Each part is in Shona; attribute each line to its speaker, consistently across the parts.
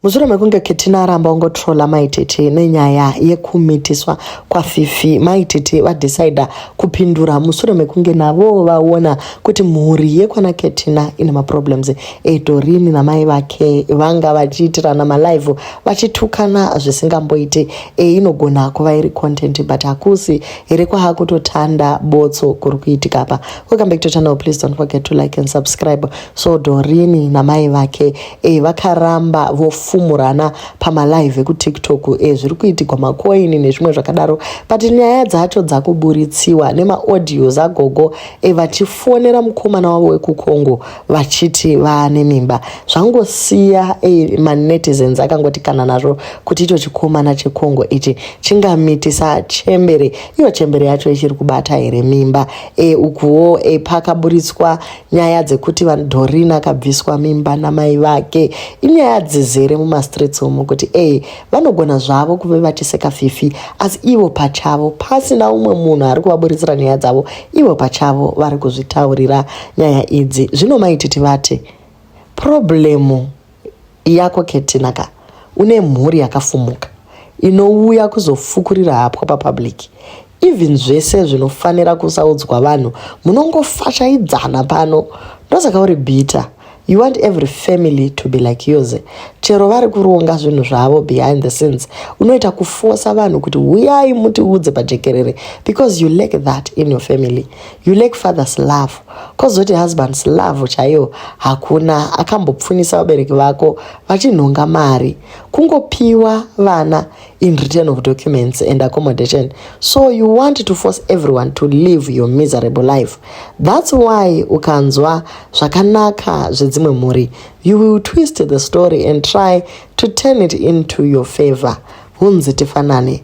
Speaker 1: mushure mekunge ketina aramba ungotrola maitete nenyaya yekumitiswa kwafifi maitete vadecida kupindura mushure mekunge navowo vaona kuti mhuri yekwana ketina ine maproblems edorini namai vake vanga vachiitirana malive vachitukana zvisingamboite einogona kuva iri content but hakusi here kwahakutotanda botso kuri kuitika apa welcome back to channel please don't forget to like and subscribe so dorini namai vake e, vakaramba vofumurana pamalive ekutiktok e, eh, zviri kuitigwa makoini nezvimwe zvakadaro but nyaya dzacho dzakuburitsiwa nemaaudioz agogo e, eh, vachifonera mukomana wavo wekucongo vachiti vaane mimba zvangosiya e, manetizens akangoti kana nazvo kuti icho chikomana checongo ichi chingamitisa chembere iyo chembere yacho ichiri kubata here mimba e, ukuwo e, pakaburitswa Nyaya dzekuti Doreen akabviswa mimba namai vake inyaya dzizere mumastreets umu kuti ee vanogona zvavo kuve vachiseka fifi asi ivo pachavo pasina umwe munhu ari kuvaburitsira nyaya dzavo ivo pachavo vari kuzvitaurira nyaya idzi zvino maititi vati problemu Yako Ketina ka une mhuri yakafumuka inouya kuzofukurira hapwa papublic even zvese zvinofanira kusaudzwa vanhu munongofashaidzana pano ndosaka uri bitter you want every family to be like yours chero vari kuronga zvinhu zvavo behind the scenes unoita kufosa vanhu kuti huyai mutiudze pajekerere because you lack that in your family you lack father's love kozoti husband's love chaiyo hakuna akambopfunisa vabereki vako vachinhonga mari kungopiwa vana in return of documents and accommodation so you want to force everyone to live your miserable life that's why ukanzwa zvakanaka zvedzimwe mhuri you will twist the story and try to turn it into your favor hunzi tifanane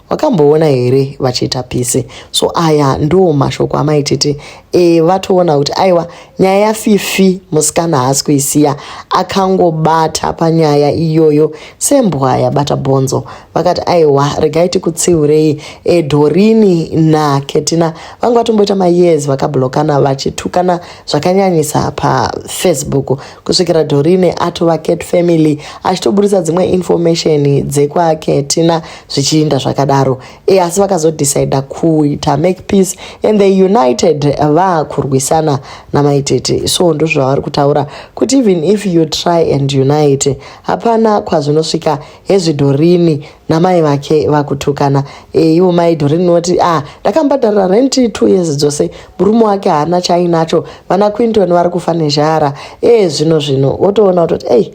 Speaker 1: wakamboona here vachiita pisi so aya ndo mashoko amai tete e, vatoona kuti aiwa nyaya yafifi musikana haasi kuisiya akangobata panyaya iyoyo sembwa yabata bhonzo vakati aiwa regai tikutsiurei e, dorini naketina vanga vatomboita mayezi vakablokana vachitukana zvakanyanyisa pafacebook kusvikira dorini atova cat family achitoburitsa dzimwe information dzekwaketina zvichiinda zvakadaro e, asi vakazodecida kuita make peace and they united vakurwisana namaitete so ndozvavari kutaura kuti even if you try and unite hapana kwazvinosvika hezvidhorini namai vake vakutukana e, ivo mai dhorini noti a ah, ndakambadharira renti two years dzose murume wake haana chainacho vana quinton vari kufa nezhara e, zvino zvino wotoona kutoti ei hey,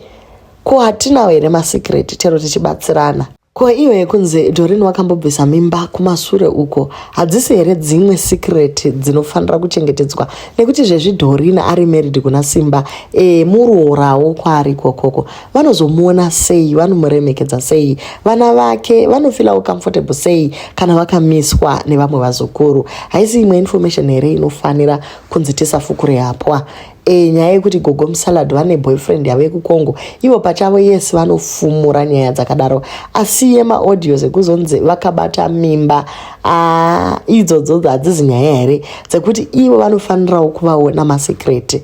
Speaker 1: Ko hatinawo here masecret chero tichibatsirana? Ko iyo yekunzi Doreen wakambobvisa mimba kumasure uko hadzisi here dzimwe secret dzinofanira kuchengetedzwa nekuti zvezvi Doreen ari married kuna Simba e, murorawo kwaari kokoko vanozomuona sei vanomuremekedza sei vana vake vanofilawo comfortable sei kana vakamiswa nevamwe vazukuru haisi imwe information here inofanira kunzi tisafukure hapwa E, nyaya yekuti gogo musalad vane boyfriend yavo yekukongo ivo pachavo yes vanofumura nyaya dzakadaro asi yemaaudios ekuzonzi vakabata mimba ah, idzodzo hadzizi nyaya here dzekuti ivo vanofanirawo kuvaona masekreti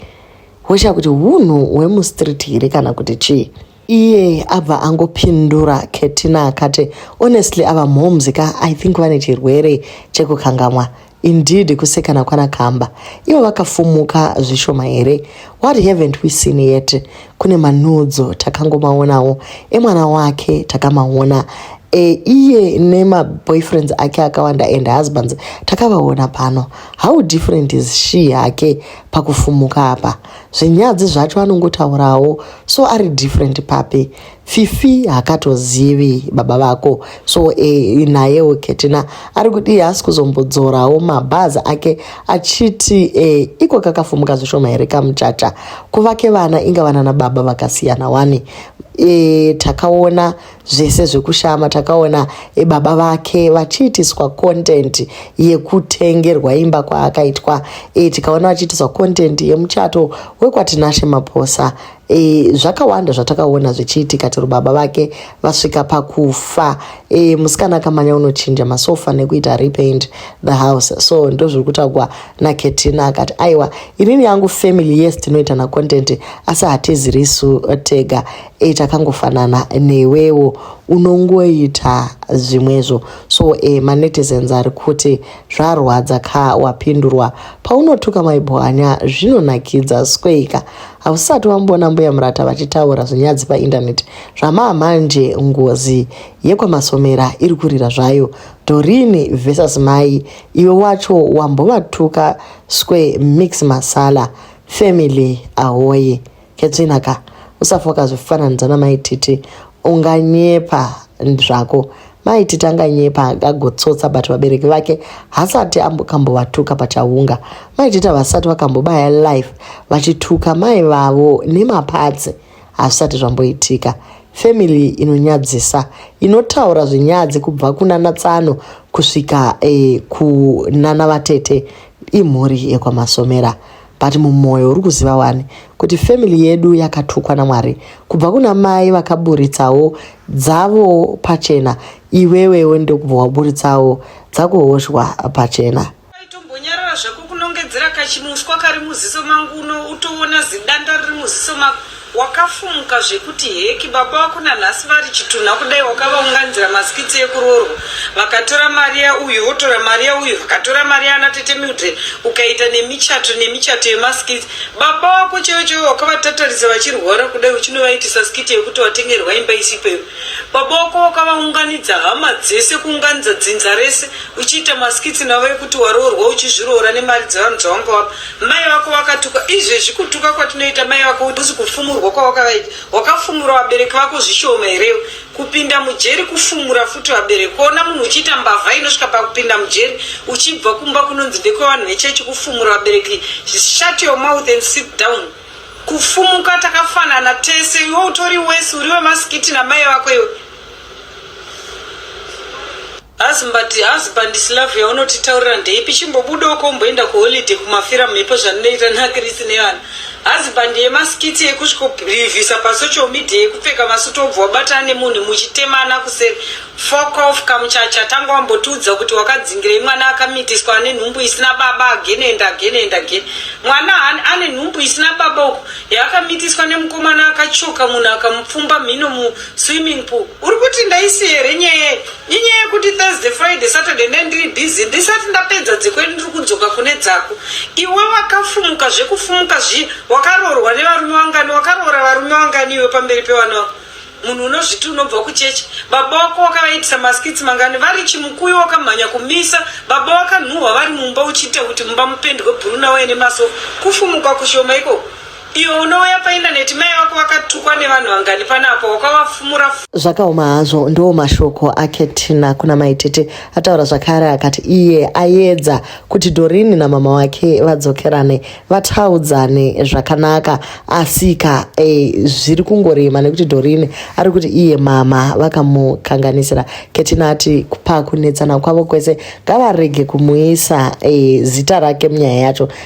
Speaker 1: hosha kuti hunhu hwemustreet here kana kuti chii iye abva angopindura ketina akati honestly ava mhoms ka i think vane chirwere chekukangamwa indeed kusekana kwana kamba ivo vakafumuka zvishoma here what haven't we seen yet kune manudzo takangomaonawo emwana wake takamaona e, iye nemaboyfriends ake akawanda and husbands takavaona pano how different is she hake pakufumuka apa zvinyadzi zvacho anongotaurawo so ari different papi fifi hakatozivi baba vako so e, nayewo ketina ari kudii haasi kuzombodzorawo mabhazi ake achiti e, iko kakafumuka zvishoma here kamuchacha kuvake vana inga vana nababa vakasiyana wani e, takaona zvese zvekushama takaona baba vake vachiitiswa content yekutengerwa imba kwaakaitwa e, tikaona vachiitiswa content yemuchato wekwatinashe maposa e, zvakawanda zvatakaona zvichiitika tiri baba vake vasvika pakufa e, musikana akamanya unochinja masofa nekuita repaint the house so ndozviri kutagwa naketina akati aiwa inini yangu family yes tinoita nacontent asi hatizirisu tega e takangofanana newewo unongoita zvimwezvo so e manetizens ari kuti zvarwadza ka wapindurwa paunotuka maibwanya zvinonakidza sweika hausati wamboona mbuya murata vachitaura zvinyadzi paindaneti zvamaa manje ngozi yekwamasomera iri kurira zvayo dorini versus mai iwe wacho wambovatuka sque mix masala family ahoye Katrina ka usafa ukazofananidza namai titi unganyepa zvako mai titi anganyepa agagotsotsa but vabereki vake hasati ambokambovatuka pachaunga mai titi havasati vakambobaya life vachituka mai vavo nemapatsi hazvisati zvamboitika family inonyadzisa inotaura zvinyadzi kubva kunana tsano kusvika eh, kunana vatete imhuri yekwamasomera but mumoyo uri kuziva wani kuti family yedu yakatukwa namwari kubva kuna mai vakaburitsawo dzavo pachena iwewewo ndokubva waburitsawo dzakuhoshwa pachena itombonyarara
Speaker 2: zvako kunongedzera kachimuswa kari muziso mangu uno utoona zidanda riri muziso mako Wakafumuka zvekuti heki baba vako nanhasi vari chitunha kudai wakavaunganzira maskits ekuroorwa vakatora mari yauyu votora mari yauyu vakatora mari yaana tete Mildred ukaita nemichato nemichato yemaskits baba vako chaivo chaivo wakavatatarisa vachirwara kudai uchinovaitisa skit yekuti watengerwa imba isipo iwe baba vako wakavaunganidza hama dzese kuunganidza dzinza rese uchiita maskits navo ekuti waroorwa uchizviroora nemari dzevanhu dzawanga wapa Mai vako vakatukwa izvezvi kutuka kwatinoita mai vako uzi kufumurwa kwawakavaita wakafumura vabereki vako zvishoma herewo kupinda mujeri kufumura futi vabereki kuona munhu uchiita mbavha inosvika pakupinda mujeri uchibva kumba kunonzi ndekwevanhu vechechi kufumura vabereki shut your mouth and sit down kufumuka takafanana tese iwe utori wese uri wemasikiti namai vako iwe Husband, husband slav yaunotitaurira ndeipi chimbobuda uko umboenda kuholiday kumafira mhepo zvandinoita nakirisi nevana husband yemaskiti ekusvikorivhisa pasocial media yekupfeka masuti obva wabatana nemunhu muchitemana kuseri fok of kamuchacha tanga wambotiudza kuti wakadzingirei mwana akamitiswa ane nhumbu isina baba again and again and again mwana ane nhumbu isina baba uku yaakamitiswa nemukomana akachoka munhu akamupfumba mhino muswimming pool uri kuti ndaisiye here nyaya Inyaya yekuti Thursday, Friday, Saturday ne ndiri busy ndisati ndapedza dzekwedu ndiri kudzoka kune dzako. Iwe wakafumuka zvekufumuka zvi wakaroorwa nevarume vangani wakaroora varume vangani iwe pamberi pevana vako. Munhu unozviti unobva kuchechi. Baba wako wakavaitisa maskits mangani vari chimukuyu wakamhanya kumisa. Baba wakanhuhwa vari mumba uchiita kuti mumba mupendwe bhuru nawo ene maso. Kufumuka kushoma ikoko. Iwe unouya paindaneti mai vako vakatukwa nevanhu vangani panapo wakavafumura Zvakaoma hazvo
Speaker 1: ndiwo mashoko ake Tina kuna maitete ataura zvakare akati iye ayedza kuti Dorini namama wake vadzokerane vataudzane zvakanaka asika eh, zviri kungorema nekuti Dorini ari kuti iye mama vakamukanganisira Ketina ati pakunetsana kwavo kwese ngavarege kumuisa eh, zita rake munyaya yacho